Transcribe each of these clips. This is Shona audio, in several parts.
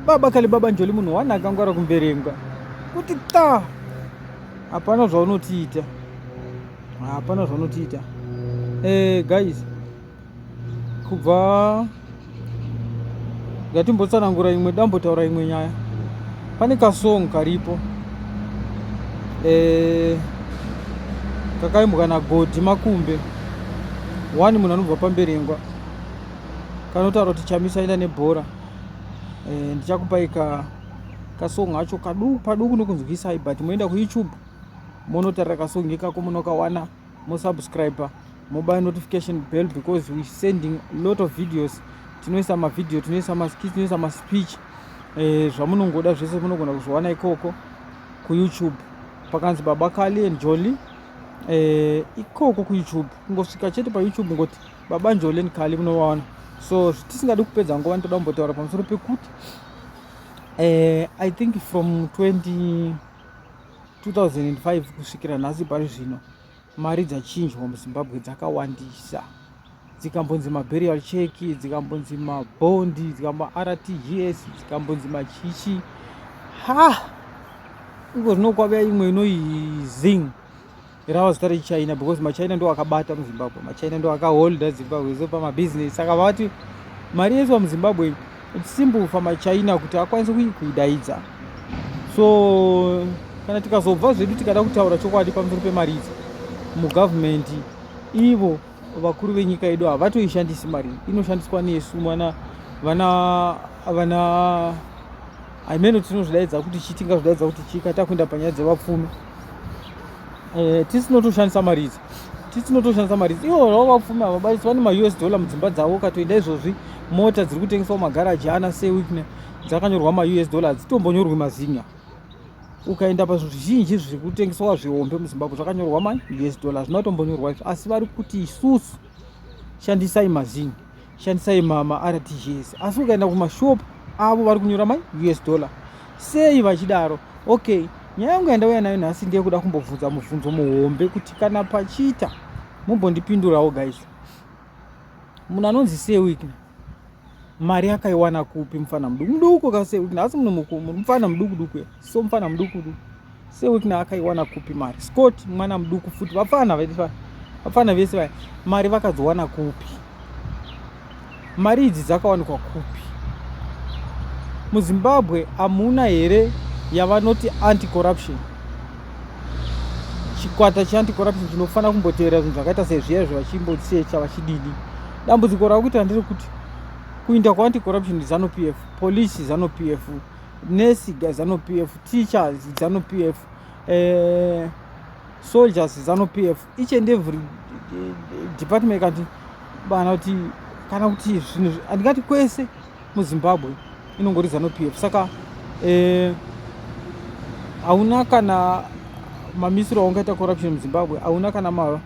baba kale baba njoli munhu wani akangwara kumberengwa kuti ta hapana zvaunotiita hapana zvaunotiita eh, guys kubva ngatimbotsanangura imwe dambotaura imwe nyaya pane kasong karipo eh, kakaimbwa nagodi makumbe wani munhu anobva pamberengwa kanotaura kuti chamisa enda nebhora e, ndichakupai ka kasong acho kaduku paduku nokunzwisai but moenda kuyoutube monotarira kasong ikako munokawana mosubscribe mobaya notification bell because we sending lot of videos tinoisa mavideo tinoisa maskit tinoisa maspeech e, zvamunongoda zvese munogona kuzviwana ikoko kuyoutube pakanzi baba kali and jolly e, ikoko kuyoutube kungosvika chete payoutube ngoti baba njoleni kali munovaona so tisingadi kupedza nguva ndoda kumbotaura pamusoro pekuti eh, i think from 20 2005 kusvikira nhasi pari zvino mari dzachinjwa muzimbabwe dzakawandisa dzikambonzi maburial check dzikambonzi mabondi dzikambartgs dzikambonzi machichi ha iko zvino kwavea imwe inoizing rava zita rechina because machina ndo akabata muzimbabwe machina ndo akaholda zimbabwe so pamabusiness saka vati mari yese pamuzimbabwe simple for machina kuti akwanise kuidaidza so kana tikazobva zvedu tikada kutaura chokwadi pamusoro pemari idzi mugovernment ivo vakuru venyika yedu havatoishandisi mari inoshandiswa nesu mwana vana vana imeno tinozvidaidza kuti chii tingazvidaidza kuti chii katakuenda panyaya dzevapfumi eh, tisi tinotoshandisa mari idzi tisi tinotoshandisa mari idzi ivo vavo vapfumi ava baisi vane maus dollar mudzimba dzavo ukatoenda izvozvi mota dziri kutengeswa mumagaraji ana sewikne dzakanyorwa maus dollar dzitombonyorwi mazinya ukaenda pazvinhu zvizhinji zviri kutengeswa zvihombe muzimbabwe zvakanyorwa maus dollar zvinotombonyorwa izvo asi vari kuti isusu shandisai mazinya shandisai mama rtgs asi ukaenda kumashop avo vari kunyora mai us dollar sei vachidaro okay nyaya yangu yandauya nayo nhasi ndiye kuda kumbobvunza mubvunzo muhombe kuti kana pachiita mumbondipindurawo guys munhu anonzi sewikna mari yakaiwana kupi mufana muduku muduku ka sewikna asi munhu mufana muduku duku so mufana muduku duku Sewikna akaiwana kupi mari? Scott mwana muduku futi vapfana vaitwa vapfana vese vaya mari vakazowana kupi? Mari idzi dzakawanikwa kupi? MuZimbabwe hamuna here yavanoti anti corruption? Chikwata cheanti corruption chinofanira kumboteerera zvinhu zvakaita sezviya izvo vachimbotsecha vachididi. Dambudziko rava kuita ndere kuti kuinda kwaanti corruption zanu PF, police zanu PF, nurse ga zanu pf teachers zanu pf eh, soldiers zanu pf each and every eh, department kati bana kuti kana kuti zvinhu handingati kwese muzimbabwe inongori zanu pf saka eh, hauna eh, kana mamisiro aungaita corruption muzimbabwe hauna kana ma,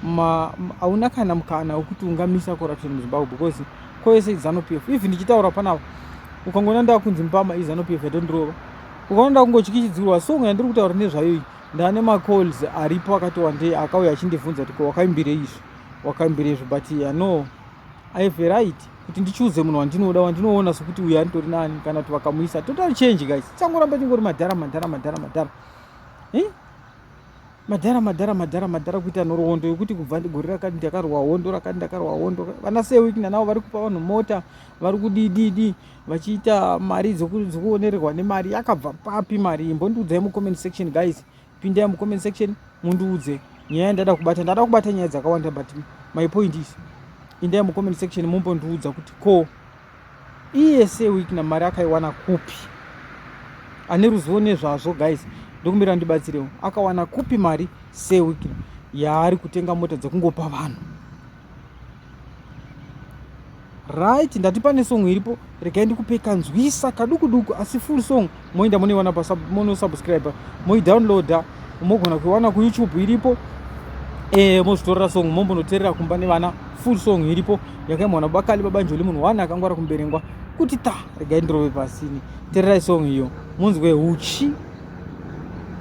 ma, hauna kana mukana wekuti ungamisa corruption muzimbabwe because kwese izano pf even ndichitaura panapa ukangoona ndakunzi mbama izano pf yatondirova ukaona ndakungotyichisdzirwa so nyaya ndiri kutaura nezvayo iyi ndane macalls aripo akati wandei akauya achindivhunza kuti ko wakaimbirei izvi wakaimbirei izvi but ya no i have a right kuti ndichuze munhu wandinoda wandinoona sokuti uyo anditori nani kana kuti vakamuisa total change guys changoramba chingori madhara madhara madhara madhara eh? Madhara madhara madhara madhara kuita nhoroondo yokuti kubva gore rakati ndakarwa hondo rakati ndakarwa hondo vana sewikina navo vari kupa vanhu mota vari kudididi vachiita mari dzekuonererwa nemari yakabva papi mari iyi mbondiudzai mucomment section guys pindai mucomment section mundiudze nyaya yandada kubata ndada kubata nyaya dzakawanda but my point is indai mucomment section mumbondiudza kuti ko iese wikna mari akaiwana kupi ane ruzivo nezvazvo guys ndokumbira ndibatsirewo akawana kupi mari sewikna yaari kutenga mota dzekungopa vanhu right ndati pane song iripo regai ndikupe kanzwisa kadukuduku asi full song moenda monoiwana monosubscribe moidownloada mogona kuiwana kuyoutube iripo e, mozvitorera song mombonoterera kumba nevana full song iripo yakaimwa na bakali babanjoli munhu wani akangwara kumberengwa kuti ta regai ndirove pasini tererai song iyo munzwe huchi